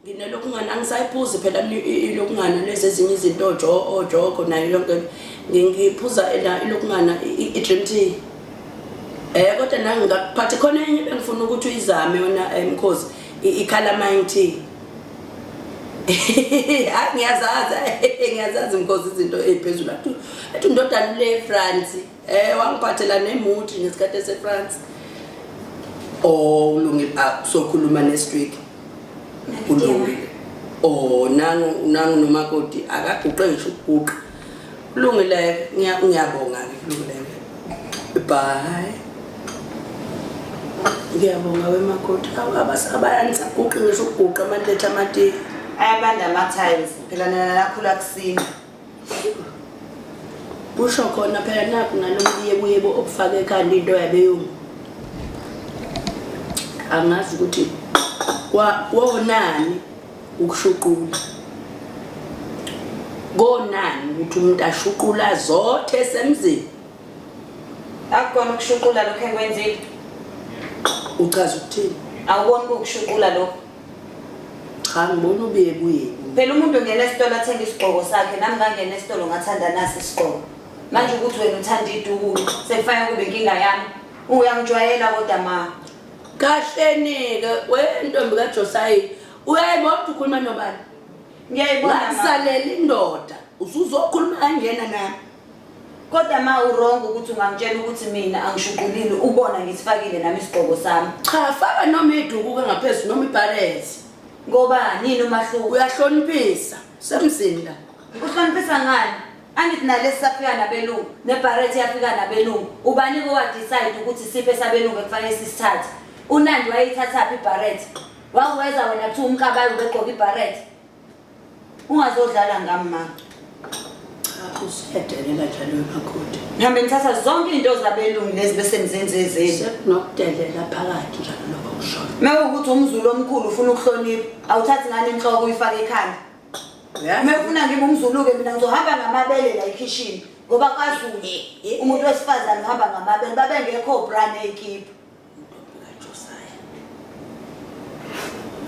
nginelokungana angisayiphuzi phela ilokungana lezi ezinye izinto ojogo nayo yonke ngiphuza ena ilokungana i-dream t um eh, kodwa nangingakuphathi khona enye bengifuna ukuthi uyizame yona eh, mkhozi i-calamine t hayi ngiyazazi ngiyazazi mkhozi izinto ey'phezulu athi ndodana le france Eh wangiphathela nemuthi ngesikhathi eseFrance. Oh ulungile ah, sokhuluma next week. Ulungile. Oh nangu nangu nomakoti akaguqe ngisho ukuguqa. Ulungile ngiyabonga ke ulungile. Bye. Ngiyabonga wemakoti abasabayanisa guqe ngisho ukuguqa amantethe amatiye. Ayabanda ama tiles phela nalakhula kusini. kusho khona phela nakho nalomyebuyebo obufake ekhanda into yabeyungu angazi ukuthi kwonani ukushuqula konani ukuthi umuntu ashuqula zothe esemzini akukona ukushuqula lokho enkwenzile uchaza ukuthini awuboni kukushuqula lokho cha ngibona ubeyebuyebu phela umuntu ungena esitolo athenga isigqoko sakhe nami ngangena esitolo ngathanda nasi isigqoko manje ukuthi wena uthanda iduku sekufanele kube inkinga yami uyangijwayela kodwa ma kahleni-ke wentombi kajosayi uyayibona ukuthi ukhuluma nobani ngiyayibona ngakusalela indoda usuzokhuluma kangena nami Kodwa ma uwrong ukuthi ungangitshela ukuthi mina angishuqulile ubona ngisifakile nami isigqoko sami. Cha faka noma idukuka ngaphezulu noma ibhalezi. Ngoba nini umahluko? Uyahloniphisa semzini la. Uhloniphisa ngani? Angithi nalesi safika nabelungu nebharethi yafika nabelungu ubani ko wadecide ukuthi siphe sabelungu ekufanele sisithathe unandi wayeyithathaphi ibharethi wakuweza wena kuthiwa umkabayo ubegqoka ibharethi Ungazodlala ngami ma. Cha usedelela njalo wemakoti. Ngihambe ngithatha zonke izinto zabelungu lezi bese ngizenze ezethu. Nokudelela phakathi njalo lokho kushoyo. Mewukuthi umzulu omkhulu ufuna ukuhlonipha, awuthathi ngani inhloko uyifake ekhanda. Uma ufuna ngibe umzulu-ke mina ngizohamba ngamabele la ekhishini ngoba kwaZulu umuntu wesifazane uhamba ngamabele babengekho brand ey'kipha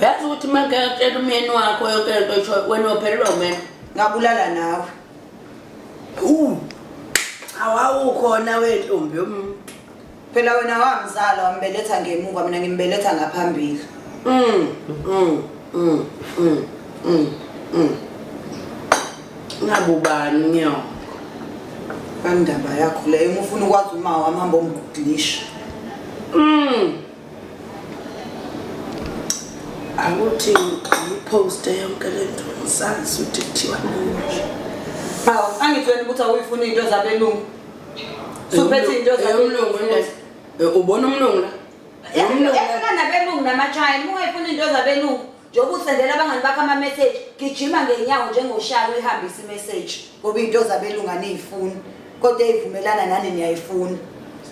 yazi ukuthi uma ngekatshela umyeni wakho yonke lento isho wena ophelelwa umena ngabulala nawe awawukhona wentombi yomuntu phela wena wamzala wambeletha ngemuva mina ngimbeletha ngaphambili mm, mm, mm, mm, mm, mm. Ngabubani nyoko. Bandaba yakho leyo uma ufuna ukwazi uma wamamba omgudlisha. Mm. Awuthi ngipost yonke lento ngisazi ukuthi kuthiwa nje. Hawu angitshela ukuthi awuyifuna into zabelungu. Suphethe into zabelungu. Eh, ubona umlungu la? Yamlungu. Yafuna nabelungu namachayini, ungayifuna into zabelungu. Njengoba usendela abangani bakho ama-message, gijima ngenyawo njengoshayo uyihambise i-message ngoba into zabelunga niyifuni kodwa eyivumelana nani niyayifuna.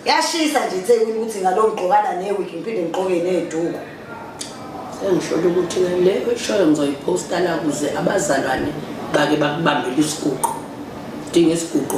Yashisa nje eThekwini ukuthi ngalo ngigqokana newigi ngiphinde ngigqoke neduku. Sengisholo ukuthi le oyishoyo ngizoyiphosta la kuze abazalwane bake bakubambele isiguqo. Dinga isiguqo.